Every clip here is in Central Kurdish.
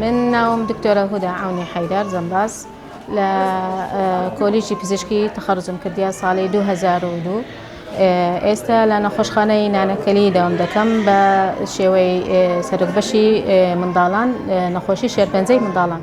من ناوم دکتۆرە هودا عونی حەیدار جەمباز لە کۆلیجی پزیشکی تەخەرزم کردیا ساڵی 2002 ئێستا لە نەخۆشخانەی نانەکەلی داوام دەکەم بە شێوەی سەرک بەشی منداڵان نەخۆشی شێرپەنجەی منداڵان.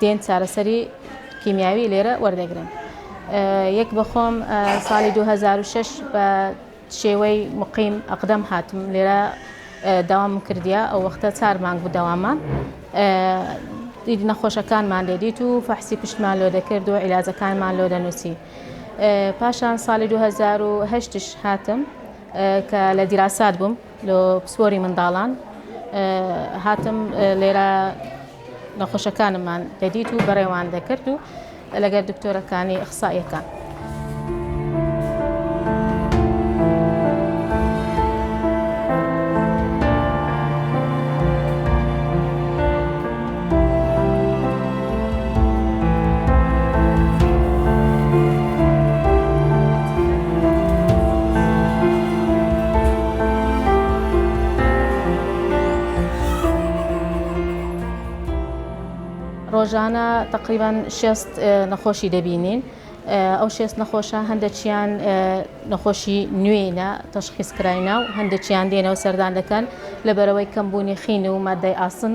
دێن چارەسەری کیمیاوی لێرە وەردەگرن. یەک بە خۆم ساڵی دوو هەزار و شەش بە شێوەی مقیم ئەقدەم هاتم لێرە داوام کردیا ئەو وەختە چار مانگ بوو داوامان دید نەخۆشەکانمان لێ دیت و فەحسی پشتمان لۆ دەکرد و عیلاجەکانمان لۆ دەنووسی پاشان ساڵی 2010 هاتم کە لە دیراسات بووم لۆ پسپۆری منداڵان هاتم لێرە نەخۆشەکانممان دەدیت و بەڕێوان دەکرد و لەگەر دکتۆرەکانی ئەخسائیەکان. ڕۆژانە تقریبان شێست نەخۆشی دەبینین ئەو شێست نەخۆشە هەندێکیان نەخۆشی نوێینە تەشخیز کراینە و هەندێکیان دێنەوە سەردان دەکەن لەبەرەوەی کەمبوونی خین و مادەی ئاسن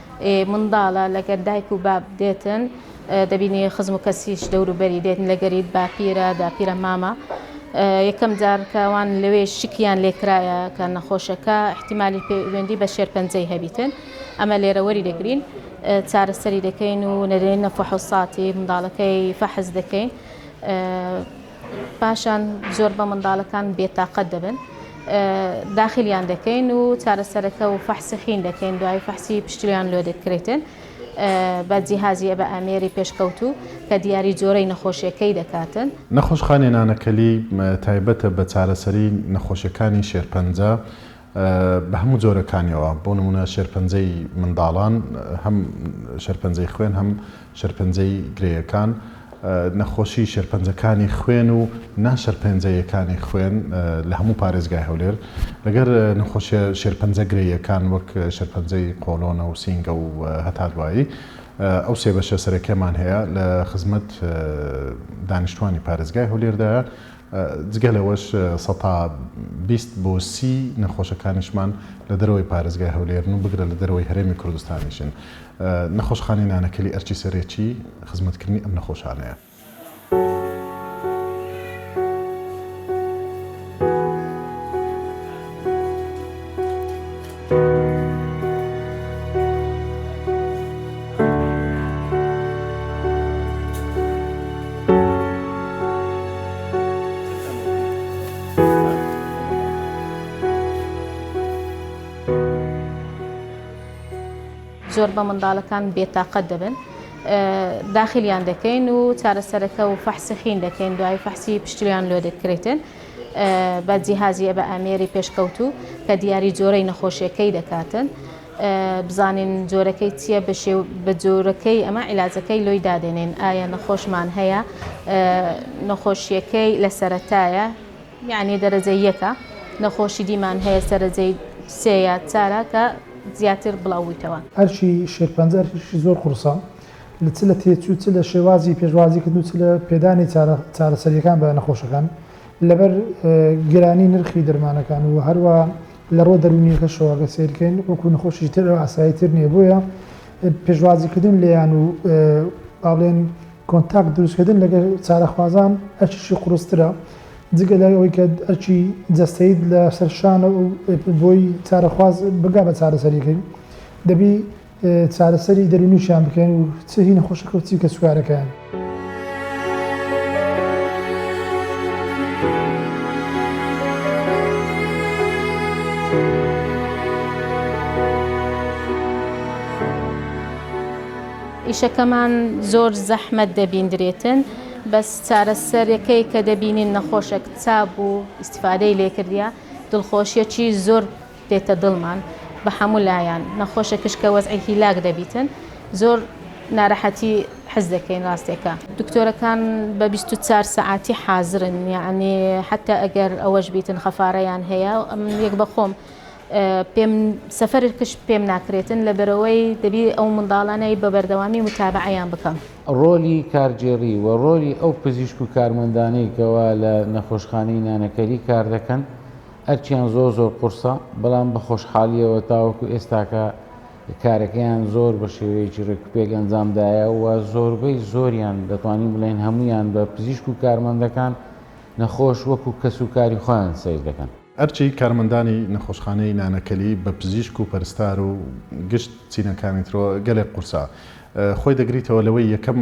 منداڵە لەگەر دایک و باب دێتن دەبینی خزم و کەسیش دەور و بەری دێتن لەگەریت باپیرە داپیرە مامە یەکەم جار کەوان لەوێ شکیان لێکرایە کە نەخۆشەکە احتیممالی پەیوەندی بە شێرپەنجەی هەبیتن ئەمە لێرەوەری دەگرین چارەسەری دەکەین و نەرێنە فحوساتی منداڵەکەی فەحس دەکەین پاشان زۆر بە منداڵەکان بێتاقەت دەبن داخلیان دەکەین و چارەسەرەکە و فەحسی خین دەکەین دوای فەحسی پشتویان لۆ دەکرێتن بە جیهازیە بە ئامێری پێشکەوتوو کە دیاری جۆرەی نەخۆشیەکەی دەکاتن. نەخۆشخانەی نانەکەلی تایبەتە بە چارەسەری نەخۆشیەکانی شێرپەنجە، بە هەموو جۆرەکانیەوە، بۆ نموونە شێرپەنجەی منداڵان، هەم شێرپەنجەی خوێن هەم شێرپەنجەی گرێیەکان، نەخۆشی شێرپەنجەکانی خوێن و نا شەرپەنجەیەکانی خوێن لە هەموو پارێزگای هەولێر، لەگەر نەخۆشیە شێرپەنجە گرێیەکان وەک شێرپەنجەی قۆڵۆنە و سینگە و هەتا دوایی، ئەو سێ بەشە سەرەکیەمان هەیە لە خزمەت دانیشتوانی پارێزگای هەولێردایە. جگە لەوەش سەتا بیست بۆ سی نەخۆشەکانیشمان لە دەرەوەی پارێزگای هەولێرن و بگرە لە دەرەوەی هەرێمی کوردستانیشن. نەخۆشخانەی نانەکەلی ئەرکی سەرەکی خزمەتکردنی ئەم نەخۆشانەیە. زۆر بە منداڵەکان بێتاقەت دەبن داخلیان دەکەین و چارەسەرەکە و فەحسەخین دەکەین دوای فەحسی پشتویان لۆ دەکرێتن بە جیهازی ئەبە ئامێری پێشکەوتوو کە دیاری جۆرەی نەخۆشیەکەی دەکاتن بزانین جۆرەکەی چییە بەشێ بە جۆرەکەی ئەمە عیلاجەکەی لۆی دادێنین ئایا نەخۆشمان هەیە نەخۆشیەکەی لە سەرەتایە یعنی دەرەجە یەکە نەخۆشی دیمان هەیە سەرەجەی سێ یا چارە کە زیاتر بڵاوبوویتەوە ئەرشی شێرپەنجە ئەرشی زۆر قورسە لە چ لە تێچوو چ لە شێوازی پێشوازیکردن و چ لە پێدانی چارەسەرییەکان بە نەخۆشەکان لەبەر گرانی نرخی دەرمانەکان و هەروە لە ڕۆ دەرونیەکە شەواگە سیرکەین وەکو نەخۆشی تر ئاسایی تر نیە بۆیە پێشوازیکردن لێیان و باڵێن کۆنتاک دروستکردن لەگە چارەخوازان ئەچشی قرسترە جگە لای ئەوەی کە ئەرچی جەستەیت لە سەرشانە و بۆی چارەخواز بگا بە چارەسەریکەین دەبی چارەسەری دەروونیشیان بکەین و چ هی نەخۆشەکە و چی کەسوکارەکەیان. ئیشەکەمان زۆر زەحمەت دەبیندرێتن بەس چارەسەرەکەی کە دەبینین نەخۆشێک چا بوو ئیسفادەی لێکردە دڵخۆشیەکی زۆر دێتە دڵمان بە حەموو لایان نەخۆشە کچ کە وەزعی هیلاک دەبیتن زۆر نارەحەتی حس دەکەین راستێکە. دکتۆرەکان بە بیست و چار سەعاتی حازرن یەعنی حەتە ئەگەر ئەوەش بیتن خەفارەیان هەیە من یەک بە خۆم پێم سەفەر کچ پێم ناکرێتن لەبەرەوەی دەبی ئەو منداڵانەی بە بەردەوامی متابەعەیان بکەم. ڕۆلی کارگێڕی و ڕۆلی ئەو پزیشک و کارمەندانەی کەوا لە نەخۆشخانەی نانەکەری کار دەکەن ئەرکیان زۆر زۆر قورسە، بەڵام بە خۆشحالییەوە تاوەکو ئێستاکە کارەکەیان زۆر بە شێوەیەکی رێکوپێک ئەنجام دایە و زۆربەی زۆریان دەتوانین بڵێین هەموویان بە پزیشک و کارمەندەکان نەخۆش وەکو کەس و کاری خۆیان سەیر دەکەن. ئەرکی کارمەندانی نەخۆشخانەی نانەکەلی بە پزیشک و پەرستار و گشت چینەکانی ترەوە گەلێک قورسە. خۆی دەگریتەوە لەوەی یەکەم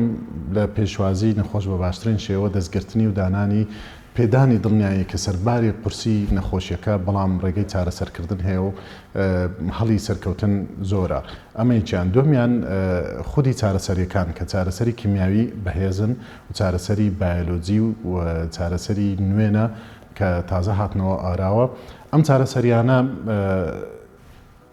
لە پێشوازی نەخۆش بە باشترین شێوە دەستگرتنی و دانانی پێدانی دڵنیایی کە سەرباری قورسی نەخۆشیەکە بەڵام ڕێگەی چارەسەرکردن هەیە و هەڵی سەرکەوتن زۆرە ئەمە یەکیان دومیان خودی چارەسەریەکان کە چارەسەری کیمیاوی بەهێزن و چارەسەری بایەلۆجی و چارەسەری نوێنە کە تازە هاتنەوە ئاراوە ئەم چارەسەریانە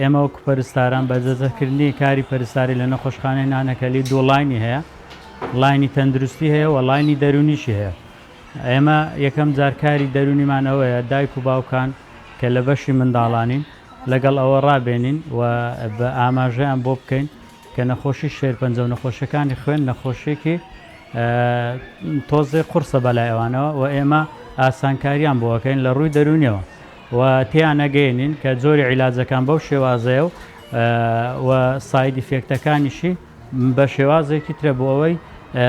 ئێمە وەکو پەرستاران بەجەزەکردنی کاری پەرستاری لە نەخۆشخانەی نانەکەلی دوو ڵاینی هەیە ڵاینی تەندروستی هەیە و ڵاینی دەرونیشی هەیە ئێمە یەکەم جار کاری دەرونیمان ئەوەیە دایک و باوکان کە لە بەشی منداڵانین لەگەڵ ئەوە ڕابێنین و بە ئاماژەیان بۆ بکەین کە نەخۆشی شێرپەنجە و نەخۆشیەکانی خوێن نەخۆشیەکی تۆزێ قورسە بەلای ئەوانەوە و ئێمە ئاسانکاریان بۆ ئەکەین لە ڕووی دەرونیەوە. و تێیانەگەیەنین کە جۆری عیلاجەکان بەو شێوازەیە و و ساید ئیفێکتەکانیشی بە شێوازێکی ترە بۆ ئەوەی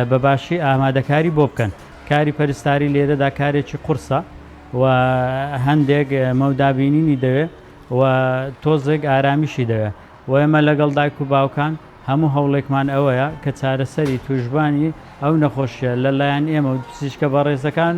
بە باشی ئامادەکاری بۆ بکەن کاری پەرستاری لێرەدا کارێکی قورسە و هەندێک مەودابینینی دەوێ و تۆزێک ئارامیشی دەوێ و ئێمە لەگەڵ دایک و باوکان هەموو هەوڵێکمان ئەوەیە کە چارەسەری توشببانی ئەو نەخۆشیە لەلایەن ئێمە و پزیشکە بەڕێزەکان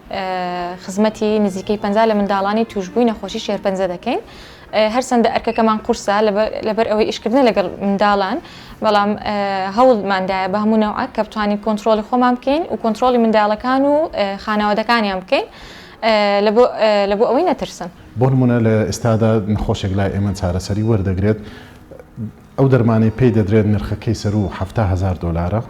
خزمەتی نزیکەی پەنجا لە منداڵانی تووشبووی نەخۆشی شێرپەنجە دەکەین، هەرچەندە ئەرکەکەمان قورسە لەبەر ئەوەی ئیشکردنە لەگەڵ منداڵان، بەڵام هەوڵمان دایە بە هەموو نەوعەک کە بتوانین کۆنتڕۆڵی خۆمان بکەین و کۆنتڕۆڵی منداڵەکان و خانەوادەکانیان بکەین لە بۆ ئەوەی نەترسن. بۆ نموونە لە ئێستادا نەخۆشێک لای ئێمە چارەسەری وەردەگرێت، ئەو دەرمانەی پێی دەدرێت نرخەکەی سەروو حەفتا هەزار دۆلارە،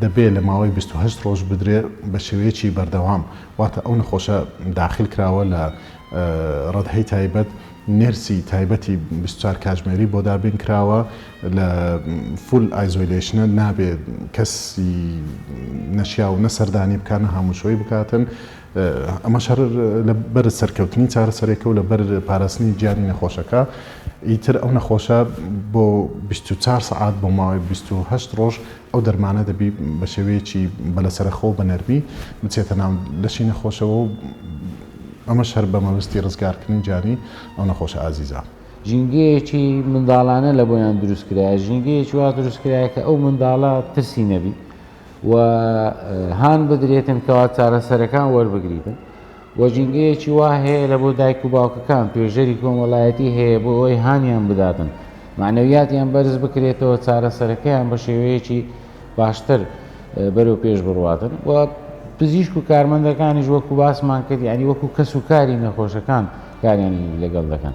دەبێت لە ماوەی بیست و هەشت ڕۆژ بدرێت بە شێوەیەکی بەردەوام، واتە ئەو نەخۆشە داخیل کراوە لە ڕەدهەی تایبەت، نێرسی تایبەتی بیست و چوار کاژمێری بۆ دابین کراوە، لە فول ئایزۆیلەیشنە، نابێت کەسی نەشیاو نە سەردانی بکات نە هاموشۆی بکاتن، ئەمەش هەر لە بەر سەرکەوتنی چارەسەرێکە و لە بەر پاراستنی گیانی نەخۆشەکە، ئیتر ئەو نەخۆشە بۆ بیست و چوار سەعات بۆ ماوەی بیست و هەشت ڕۆژ ئەو دەرمانە دەبی بە شێوەیەکی بە لەسەرەخۆ و بە نەرمی بچێتە ناو لەشی نەخۆشەوە و ئەمەش هەر بە مەبەستی ڕزگارکردنی گیانی ئەو نەخۆشە ئازیزە. ژینگەیەکی منداڵانە لە بۆیان دروست کرایە، ژینگەیەکی وا دروست کرایە کە ئەو منداڵە ترسی نەبی، و هان بدرێتن کەوا چارەسەرەکان وەربگریتن و ژینگەیەکی وا هەیە لە بۆ دایک و باوکەکان توێژەری کۆمەڵایەتی هەیە بۆ ئەوەی هانیان بداتن معنەویاتیان بەرز بکرێتەوە چارەسەرەکەیان بە شێوەیەکی باشتر بەرەو پێش بڕواتن و پزیشک و کارمەندەکانیش وەکو باسمان کرد ینی وەکو کەس و کاری نەخۆشەکان کاریان لەگەڵ دەکەن.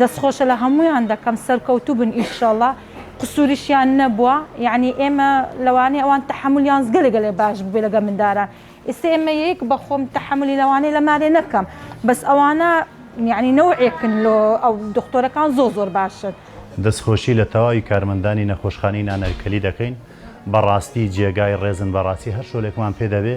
دەست خۆش لە هەموویان دەکەم سەرکەوتوبن ئیشەڵا قسوریشیان نەبوە یانی ئێمە لەوانەیە ئەوان تەحەمولیان گەلێ گەلێ باش بوبێ لەگەڵ منداران ئیستە ئێمە یەیک بەخۆم تەحەمولی لەوانەیە لەمارێ نەکەم بەس ئەوانە یانی نەوعێکن لۆ ئەو دختۆرەکان زۆر زۆر باشن. دەست خۆشی لە تەواوی کارمەندانی نەخۆشخانەی نانەرکەلی دەکەین بەڕاستی جێگای ڕێزن بەڕاستی هەر شۆلێکمان پێ دەبێ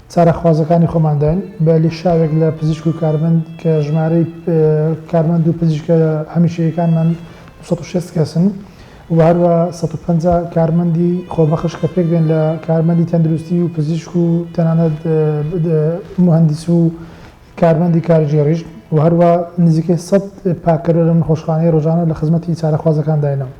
چارەخوازەکانی خۆمانداین بە لیشاوێک لە پزیشک و کارمەند کە ژمارەی کارمەند و پزیشکە هەمیشەیەکانمان دوو سەد و شەست کەسن و هەروە سەد و پەنجا کارمەندی خۆبەخش کە پێک دێن لە کارمەندی تەندروستی و پزیشک و تەنانەت مهندس و کارمەندی کارگێڕیش و هەروا نزیکەی سەد پاککەرە لەم نەخۆشخانەیە رۆژانە لە خزمەتی چارەخوازەکانداینەو.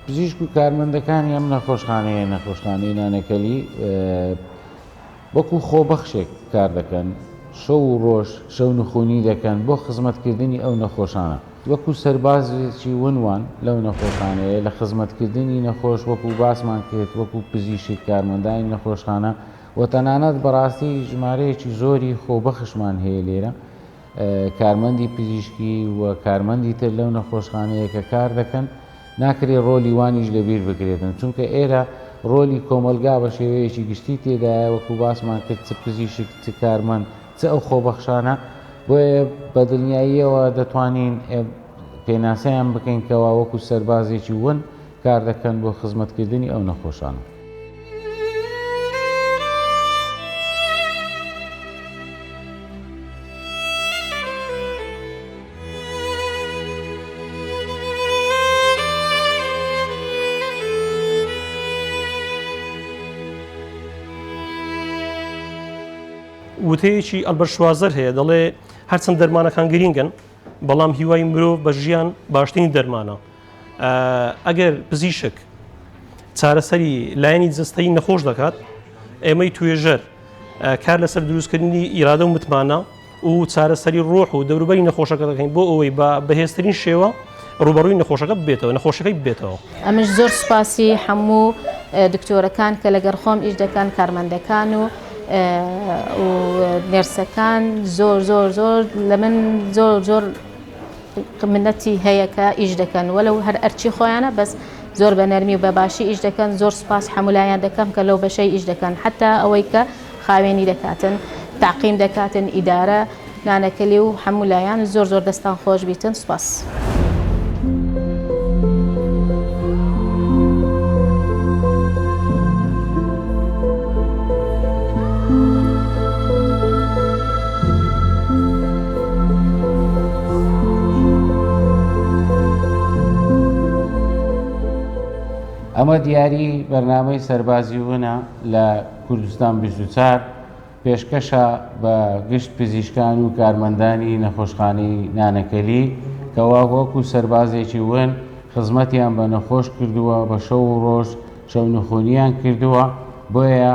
پزیشک و کارمەندەکانی ئەم نەخۆشخانەیە، نەخۆشخانەی نانەکەلی، وەکو خۆبەخشێک کار دەکەن، شەو و ڕۆژ شەونخونی دەکەن بۆ خزمەتکردنی ئەو نەخۆشانە، وەکو سەربازێکی ونوان لەو نەخۆشانەیە لە خزمەتکردنی نەخۆش وەکو باسمان کرد وەکو پزیشک کارمەندانی نەخۆشخانە و تەنانەت بەڕاستی ژمارەیەکی زۆری خۆبەخشمان هەیە لێرە، کارمەندی پزیشکی و کارمەندی تر لەو نەخۆشخانەیە کە کار دەکەن، ناکرێ ڕۆلی وانیش لەبیر بکرێتن، چونکە ئێرە ڕۆلی کۆمەڵگا بە شێوەیەکی گشتی تێدایە، وەکوو باسمان کرد چ پزیشک، چ کارمەند، چ ئەو خۆبەخشانە، بۆیە بە دڵنیاییەوە دەتوانین پێناسەیان بکەین کەوا وەکوو سەربازێکی ون کار دەکەن بۆ خزمەتکردنی ئەو نەخۆشانە. وتەیەکی ئەلبەرت شوازەر هەیە دەڵێ، هەرچەند دەرمانەکان گرینگن، بەڵام هیوای مرۆڤ بە ژیان باشترین دەرمانە. ئەگەر پزیشک چارەسەری لایەنی جستەی نەخۆش دەکات ئێمەی توێژەر کار لەسەر دروستکردنی ئیرادە و متمانە و چارەسەری ڕۆح و دەوروبەری نەخۆشەکە دەکەین بۆ ئەوەی بە بەهێزترین شێوە ڕوبەڕووی نەخۆشەکە بێتەوە نەخۆشەکەی بێتەوە ئەمش زۆر سوپاسی هەموو دکتۆرەکان کە لەگەر خۆم ئیر دەکەن کارمەندەکان و نێرسەکان زۆر زۆر زۆر لە من زۆر زۆر منەتی هەیە کە ئیش دەکەن وەلەو هەر ئەرچی خۆیانە بەس زۆر بە نەرمی و بە باشی ئیش دەکەن زۆر سوپاس حەمولایان دەکەم کە لەو بەشەی ئیش دەکەن حتا ئەوەی کە خاوێنی دەکاتن تاقیم دەکاتن ئیدارە نانەکەلی و حەمولایان زۆر زۆر دەستان خۆش بیتن سوپاس. ئەمە دیاری بەرنامەی سەربازی ونە لە کوردستان 24 پێشکەشە بە گشت پزیشکان و کارمەندانی نەخۆشخانەی نانەکەلی کەوا وەک و سەربازێکی ون خزمەتیان بە نەخۆش کردووە بە شەو و ڕۆژ شەونخۆنیان کردووە بۆیە